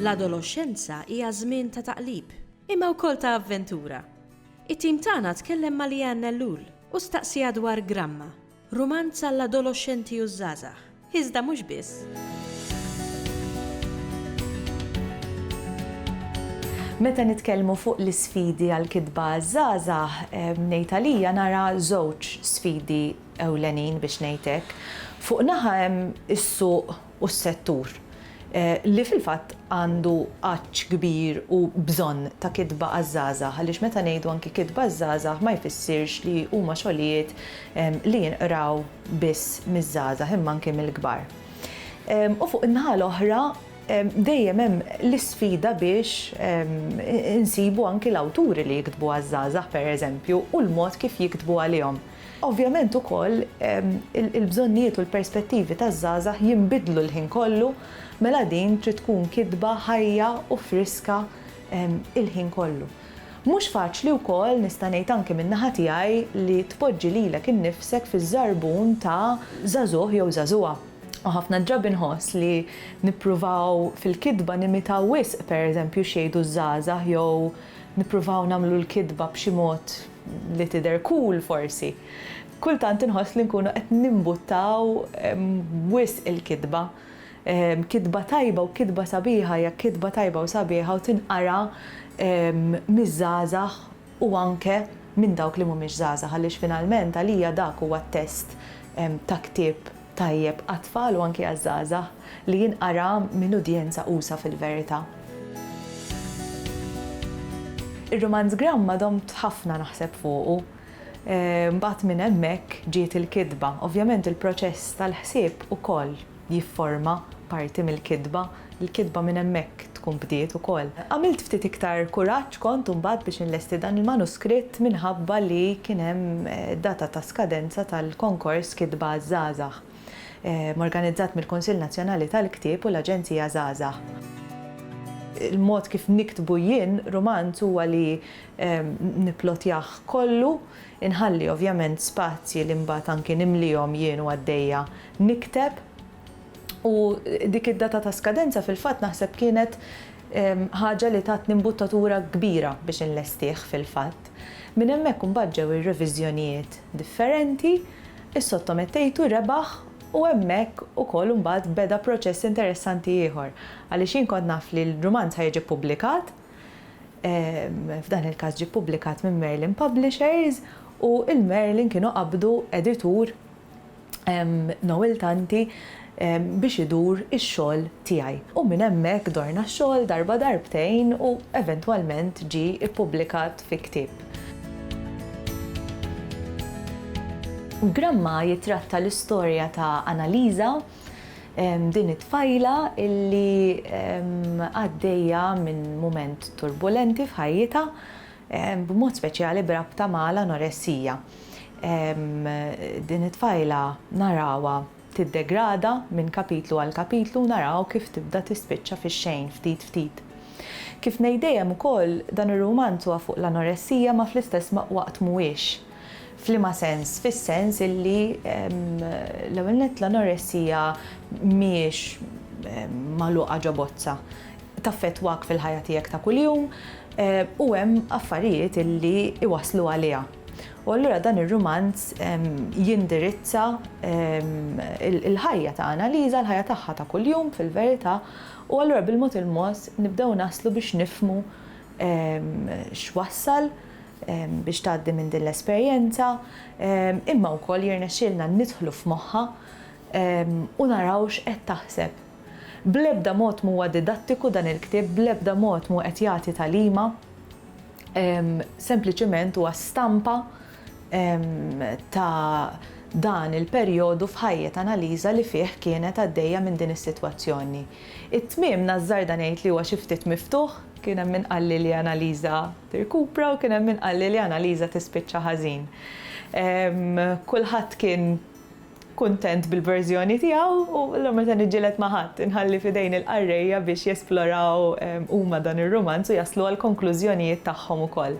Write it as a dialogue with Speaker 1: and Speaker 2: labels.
Speaker 1: L-adoloxxenza hija żmien ta' taqlib, imma wkoll ta' avventura. It-tim tagħna tkellem ma' Leanne Ellul u staqsieha dwar Gramma, Rumanz għall-adoloxxenti u ż-żgħażagħ, iżda mhux biss.
Speaker 2: Meta nitkellmu fuq l-isfidi għall-kitba għaż-żgħażagħ, ngħid għalija nara żewġ sfidi ewlenin biex ngħid hekk. Fuq naħa hemm is-suq u s-settur, li fil-fatt għandu għatx kbir u bżonn ta' kitba għaż-żgħażagħ, għaliex meta ngħidu anki kitba għaż-żgħażagħ ma jfissirx li huma xogħlijiet li jinqraw biss miż-żgħażagħ imma anki mill-kbar. U fuq in-naħa l-oħra dejjem hemm l-isfida biex insibu anki l-awturi li jiktbu għaż-żgħażagħ pereżempju u l-mod kif jiktbu għalihom. Ovvjament ukoll il-bżonnijiet u l-perspettivi taż-żgħażagħ jinbidlu l-ħin kollu, mela din trid tkun kitba ħajja u friska l-ħin kollu. Mhux faċli wkoll, nista' ngħid anke min-naħa tiegħi, li tpoġġi lilek innifsek fiż-żarbun ta' żagħżugħ jew żagħżugħa. U ħafna drabi nħoss li nippruvaw fil-kitba nimitaw wisq pereżempju x'jgħidu ż-żgħażagħ jew nippruvaw nagħmlu l-kitba b'xi mod li tidher cool forsi, kultant inħoss li nkunu qed nimbuttaw wisq il-kitba. Kitba tajba u kitba sabiħa hija kitba tajba u sabiħa u tinqara miż-żgħażagħ u anke minn dawk li mhumiex żgħażagħ għaliex finalment għalija dak huwa t-test ta' ktieb Tajjeb għat-tfal u anki għaż-żgħażagħ li jinqara minn udjenza usa' fil-verità. Ir-rumanz Gramma domt ħafna naħseb fuqu. Mbagħad minn hemmhekk ġiet il-kitba. Ovvjament il-proċess tal-ħsieb ukoll jifforma parti mill-kitba. l-kitba minn hemmhekk tkun bdiet ukoll. Għamilt ftit iktar kuraġġ kont imbagħad biex inlesti dan il-manuskritt minħabba li kien hemm data ta' skadenza tal-konkors Kitba għaż-Żgħażagħ, organizzat mill-Kunsill Nazzjonali tal-Ktieb u l-Aġenzija Żgħażagħ. Il-mod kif niktbu jien rumanz huwa li nipplotjah kollu, inħalli ovvjament spazji li mbagħad anki nimlihom jien u għaddejja nikteb. U dik id-data ta' skadenza fil-fatt naħseb kienet ħaġa li tatni mbuttatura kbira biex inlestih fil-fatt. Minn hemmhekk imbagħad ġew ir-reviżjonijiet differenti, issottomettejtu, rebaħ u hemmhekk ukoll imbagħad beda proċess interessanti ieħor għaliex jien kont naf li l-rumanz ħa jiġi ppubblikat, f'dan il-każ ġie ppubblikat minn Merlin Publishers u il-Merlin kienu qabdu editur Noel Tanti biex idur ix-xogħol tiegħi. U minn hemmhekk dorna x-xogħol darba darbtejn u eventwalment ġie ippubblikat fi ktieb. Gramma jittratta l-istorja ta' Annalisa, din it-tfajla li għaddejja minn mument turbulenti f'ħajjitha, b'mod speċjali b'rabta ma' l-anoressija. Din it-tfajla narawha tiddegrada minn kapitlu għal kapitlu u naraw kif tibda tispiċċa fix-xejn ftit ftit. Kif ngħid dejjem ukoll dan ir-rumanz huwa fuq l-anoressija ma fl-istess waqt mhuwiex. F'liema sens? Fis-sens illi l-ewwel nett l-anoressija mhijiex magħluqa ġo bozza. Taffettwak fil-ħajja tiegħek ta' kuljum u hemm affarijiet illi jwasslu għaliha. U allura dan ir-rumanz jindirizza l-ħajja ta' Annalisa, l-ħajja tagħha ta' kuljum fil-verità u allura bil-mod il-mod nibdew naslu biex nifhmu x'wassal biex tgħaddi minn din l-esperjenza, imma wkoll jirnexxielna nidħlu f'moħħha u naraw x'qed taħseb. Bl-ebda mod m'huwa didattiku dan il-ktieb, bl-ebda mod mhu qed jagħti tagħlima, sempliċiment huwa stampa ta' dan il-perjodu f'ħajjet Annalisa li fih kienet għaddejja minn din is-sitwazzjoni. It-tmiem nażżarda ngħid li huwa xi ftit miftuħ, kien hemm min qalli li Annalisa tirkupra u kien hemm min qalli li Annalisa tispiċċa ħażin. Kulħadd kien kuntent bil-verżjoni tiegħu u allura meta niġġieled ma' ħadd, inħalli f'idejn il-qarrejja biex jesploraw huma dan ir-rumanz u jaslu għall-konklużjonijiet tagħhom ukoll.